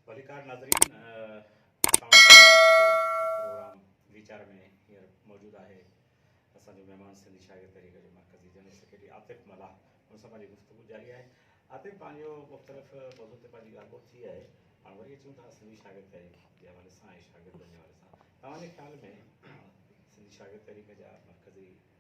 ڀليڪار ناظرين اسان وٽ پروگرام ويچار ۾ هينئر موجود آهي اسان جو مهمان سنڌي شاگرد تحريڪ جو مرڪزي جنرل سيڪريٽري عاطف ملاح ان سان پنهنجي گفتگو جاري آهي عاطف پنهنجو مختلف موضوع تي پنهنجي ڳالهه ٻوت ٿي آهي هاڻ وري اچون ٿا سنڌي شاگرد تحريڪ جي حوالي سان ۽ شاگردن جي حوالي سان توهان جي خيال ۾ سنڌي شاگرد تحريڪ جا مرڪزي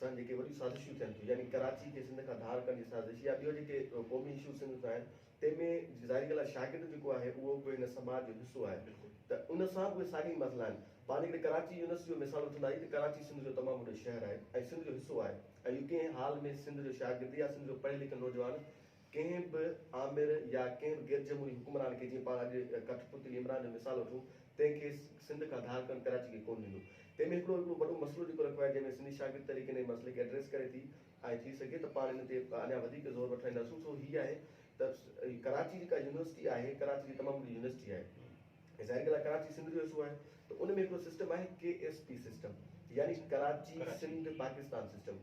سان جيڪي وڏيون سازشون ٿين ٿيون يعني ڪراچي کي سنڌ کان ڌار ڪرڻ جي سازش يا ٻيو جيڪي قومي ايشوز سنڌ ۾ آهن تنهن ۾ ظاهري ڳالهه آهي شاگرد جيڪو آهي اهو به هن سماج جو حصو آهي ته ان سان به اهي ساڳيا ئي مسئلا آهن پاڻ جيڪڏهن ڪراچي يونيورسٽي جو مثال وٺنداسين ته ڪراچي سنڌ جو تمام وڏو شهر آهي ۽ سنڌ جو حصو آهي ۽ اهو ڪنهن حال ۾ سنڌ جو شاگرد يا سنڌ جو پڙهيل لکيل نوجوان ڪنهن به آمر يا ڪنهن به غير جمهوري حڪمران کي جيئن پاڻ اڄ ڪٺ پتلي عمران جو مثال وٺون تنهن کي سنڌ کان ڌار ڪرڻ ڪراچي کي ڪونه ڏيندو. تنهن ۾ هڪڙو هڪڙو وڏو مسئلو جيڪو رکيو آهي جنهن ۾ سنڌي شاگرد تحريڪ انهيء مسئلي کي ايڊريس ڪري ٿي ۽ ٿي سگهي ته پاڻ ان تي اڃا وڌيڪ زور وٺرائينداسون سو هي آهي ته ڪراچي جيڪا يونيورسٽي آهي ڪراچي جي تمام وڏي يونيورسٽي آهي ۽ ظاهري ڳالهه آهي ڪراچي سنڌ جو حصو آهي ته ان ۾ هڪڙو سسٽم آهي ڪي ايس پي سسٽم يعني ڪراچي سنڌ پاڪستان سسٽم.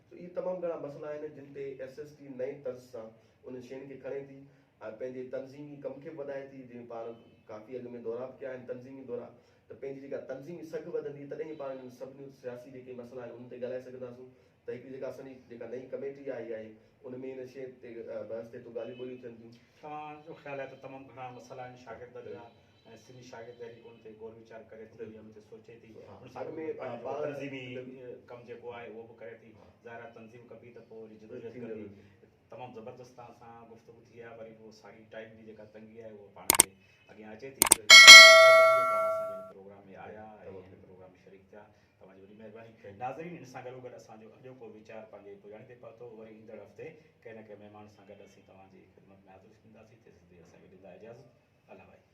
اهي تمام گهڻا مسئلا آهن جن تي ايس ايس ٽي نئين طرز سان انهن شين کي کڻي ٿي ۽ پنهنجي تنظيمي ڪم کي به وڌائي ٿي جن پاڻ ڪافي اڳ ۾ دورا به ڪيا آهن تنظيمي دورا ته پنهنجي جيڪا تنظيمي سگهه وڌندي تڏهن ئي پاڻ انهن سڀني سياسي جيڪي مسئلا آهن انهن تي ڳالهائي سگهنداسون ته هڪڙي جيڪا اسان جي جيڪا نئين ڪميٽي آئي آهي ان ۾ ان شين تي بحث ٿئي ٿو ڳالهيون ٻولهيون ٿين ٿيون. توهان جو خيال آهي ته تمام گهڻا مسئلا آهن شاگردن جا ۽ سنڌي شاگرد تحريڪ ان تي غور ويچار ڪري ٿي ۽ ان تي سوچي ٿي ان سان گڏ گڏ پنهنجو جيڪو تنظيمي ڪم جيڪو آهي اهو به ڪري ٿي ظاهر آهي تنظيم ڪبي ته پوء وري جدوجهد ڪبي تمام زبردست توهان سان گفتگو ٿي آهي وري به ساڳي ٽائيم جي جيڪا تنگي آهي اهو پاڻ کي اڳيان اچي ٿي تمام مهرباني جو توهان اسان جي هن پروگرام ۾ آيا ۽ هن پروگرام ۾ شريڪ ٿيا توهان جي وڏي مهرباني ناظرين ان سان گڏو گڏ اسان جو اڄوڪو ويچار پنهنجي پڄاڻي تي پهتو وري ايندڙ هفتي ڪنهن نه ڪنهن مهمان سان گڏ اسين توهان جي خدمت ۾ حاضر ٿينداسين تيسين تائين اسان کي ڏيندا اجازت الله وائي